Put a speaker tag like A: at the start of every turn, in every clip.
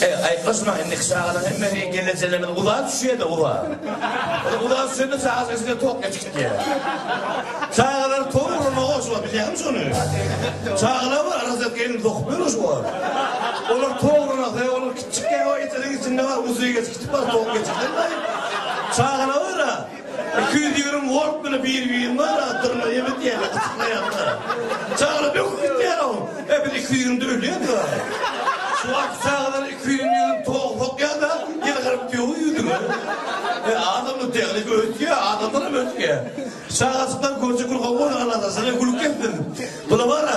A: He aýklaşmaýyn iki çaganyň hemmesi gelnejelerimiz uzaga düşýärde uzaga. Ol uzaga düşende çagalar içine tok geçip gitýär. Çagalar tok uramaga goşup bar bilýäňmi şony? Çagalar bar rozet gelin sokup ýör şu wagt. Olar tok uranasy olar kiçjik ýa ýa eteziň içinde bar uzyga geçip gitip bar tok geçip gitmedi. Çagalar bar-a. Iki ýüz ýigrimi wolt bile bir birini ara dyrna ýemedi ýaly gysyklaýarlar. Çagala böküp gitýär-ow. E biz iki ýüzümde ölýäs wara. Şu wagtky çagalar iki ýüzüni ýüzüni toga sokýar-da, ýylgyryp döwüň ýüzüňe. E adam bu tehniki ösýär, adamlar hem ösýär. Çagajyklar görje gül gowy bolar Alla-da size gül kessin. Bula wara.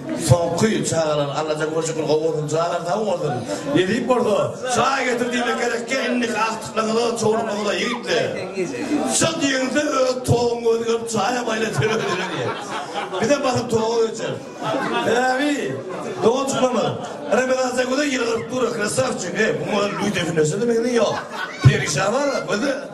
A: Soňky çagalar Allajan görjekler gowy bolsunjalar sag bolsun. Nesip bolsa çaý getir diýmek gerekkä indiki agtyklaňyza çowluklaňyza ýigitler. Şa diýeňizde öz toguň gözi görüp çaýa maýla teber ederin diýen. Bizem basyp toga geçeris. Sebäbi doganjyklarymyz Remezan Seguda ýylgyryp dur krasawçik. Eý muňa lüýt düşüneşe de meňzeý ýok. Perişan bar gözi.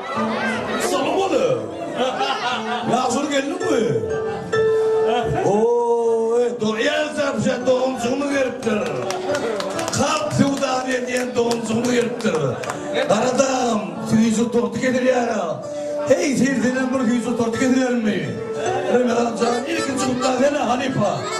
A: Soňy bolu. Ýagşyr geldiňmi? Oy, doýansa bize doňjygymy beripdir. Kalp söwdany edýän doňjygymy beripdir. Garadagym, süýji torty getirýär-ä. Heý, seýsenem bir süýji torty getirerimmi? Ömerjan, ilkinji gutlag sene, halypa.